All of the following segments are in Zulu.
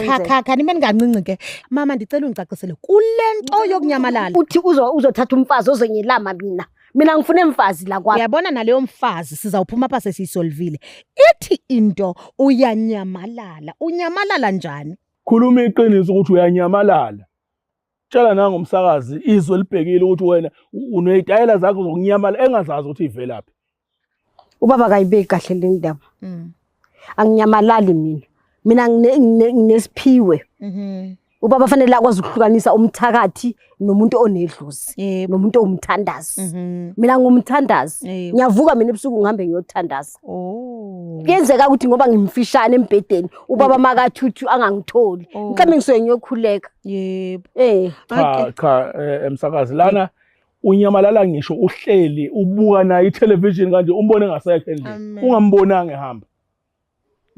Cha cha cha nime ningancinci ke mama ndicela ungicacisele kule nto yokunyamalala uthi uzo- uzothatha umfazi ozenyelama mina mina ngifuna emfazi la kwami uyabona naleyo mfazi sizawuphuma apha sesiyisolvile ithi into uyanyamalala unyamalala njani khuluma iqiniso ukuthi uyanyamalala tshela nangomsakazi izwe libhekile ukuthi wena u- unezitayela zakho zokunyamala engazazi ukuthi ivelaphi ubaba kayibeki kahle le ndaba Mm. anginyamalali mina mina ngine- ngine- nginesiphiwe Mhm. ubaba fanele akwazi ukuhlukanisa umthakathi nomuntu onedlozi Yebo. nomuntu owumthandazi Mhm. mina ngumthandazi Yebo. ngiyavuka mina ebusuku ngihambe ngiyothandaza Oh. kuyenzeka ukuthi ngoba ngimfishane embhedeni ubaba makathuthu angangitholi Oh. mhlawumbe ngisuke ngiyokhuleka Yebo. eh Cha Okay. cha eh, emsakazi lana unyamalala ngisho uhleli ubuka naye itelevision kanje umbone ngasekho endlini ungambonanga ehamba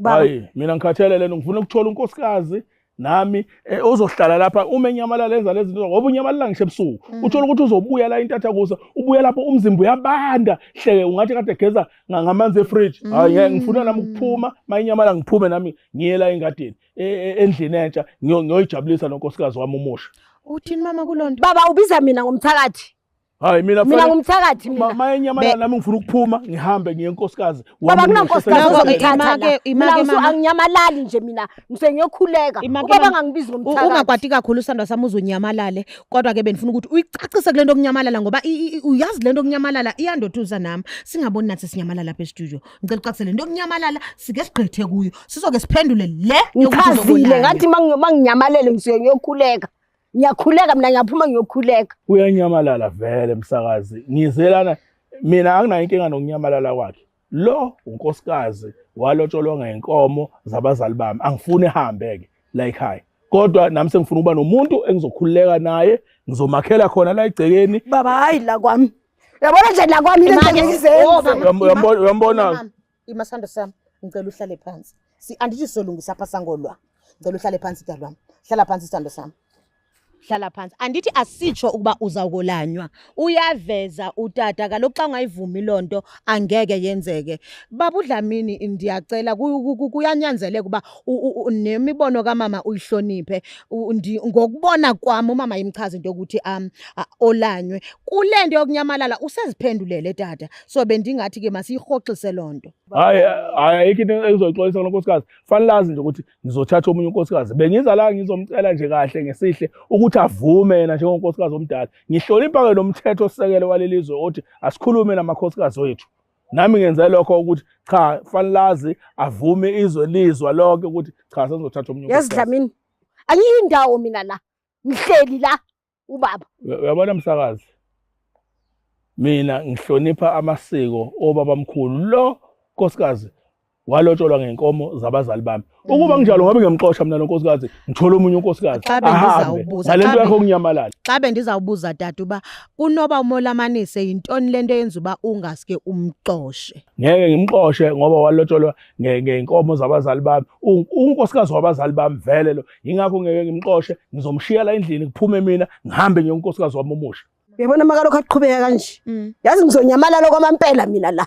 hayi mina ngikhathele lento ngifuna ukuthola unkosikazi nami eh, ozohlala lapha uma enyamalala enza lezi zinto ngoba unyamalala ngisho ebusuku mm. uthola ukuthi uzobuya la intatha kusa ubuya lapho umzimba uyabanda hleke ungathi kade geza ngamanzi efridge mm. hayi ngifuna nami ukuphuma mayinyamalala ngiphume nami ngiye la engadini e, e, endlini entsha ngiyoyijabulisa nonkosikazi wami umusha uthini mama kulonto baba ubiza mina ngomthakathi hayi mina mina ngumthakathi mina maye nyamalala nami ngifuna ukuphuma ngihambe ngiye enkosikazi baba kunankosikazi ozokuthatha ke imake mama anginyamalali nje mina ngise ngiyokhuleka ubaba ngangibiza ngomthakathi ungakwati kakhulu usandwa sami uzonyamalale kodwa ke benifuna ukuthi uyicacise kulento okunyamalala ngoba uyazi lento okunyamalala iyandoduza nami singaboni nathi sinyamalala lapha e-studio ngicela ucacisele into yokunyamalala sike sigqithe kuyo sizoke siphendule le ngichazile ngathi manginyamalele ngisuke ngiyokhuleka ngiyakhuleka mina ngiyaphuma ngiyokhuleka uyanyamalala vele msakazi ngizelana mina anginayo inkinga nokunyamalala kwakhe lo unkosikazi walotsholwa ngenkomo zabazali bami angifuni ehambe-ke la ekhaya kodwa nami sengifuna ukuba nomuntu engizokhululeka naye ngizomakhela khona la egcekeni baba hayi la kwami Uyabona nje la kwami lento ngeke izenze. Uyambona uyambona. Imasando sami ngicela uhlale phansi. Si andithi solungisa pha sangolwa. Ngicela uhlale phansi dalwami. Hlala phansi sithando sami. Hlala phansi. Andithi asitsho ukuba uzawukolanywa. Uyaveza utata kaloku xa ungayivumi lonto angeke yenzeke. Baba uDlamini ndiyacela kuyanyanzeleka uba nemibono kamama uyihloniphe ngokubona kwami umama yimchaza into yokuthi um olanywe kule nto yokunyamalala useziphendulele tata so bendingathi ke masiyirhoxise loo nto hayi hayi ayikho into ezoyixolisa kulo nkosikazi fanele azi nje ukuthi ngizothatha omunye unkosikazi bengiza la ngizomcela nje kahle ngesihle ukuthi avume yena njengonkosikazi omdala ngihlonipha-ke nomthetho osekele waleli zwe othi asikhulume namakhosikazi wethu nami ngenze lokho ukuthi cha fanlazi avume izwe lizwa lonke ukuthi cha sengizothatha omunye yazi dlamini angiyindawo mina la ngihleli la ubaba uyabona msakazi mina ngihlonipha amasiko obaba mkhulu lo nkosikazi walotsholwa ngenkomo zabazali bami ukuba mm. nginjalo ngabe ngiyamxosha mina lonkosikazi ngithole omunye unkosikazi ahambe ngalento yakho kunyamalala xa bendizawubuza dade uba kunoba umolamanise yintoni lento eyenza uba ungaske umxoshe ngeke ngimxoshe ngoba walotsholwa ngenkomo zabazali bami unkosikazi wabazali bami vele lo yingakho ngeke ngimxoshe ngizomshiya la endlini kuphume mina ngihambe ngiyonkosikazi wami omusha uyabona makalokho aqhubeka kanje mm. yazi ngizonyamalala kwamampela mina la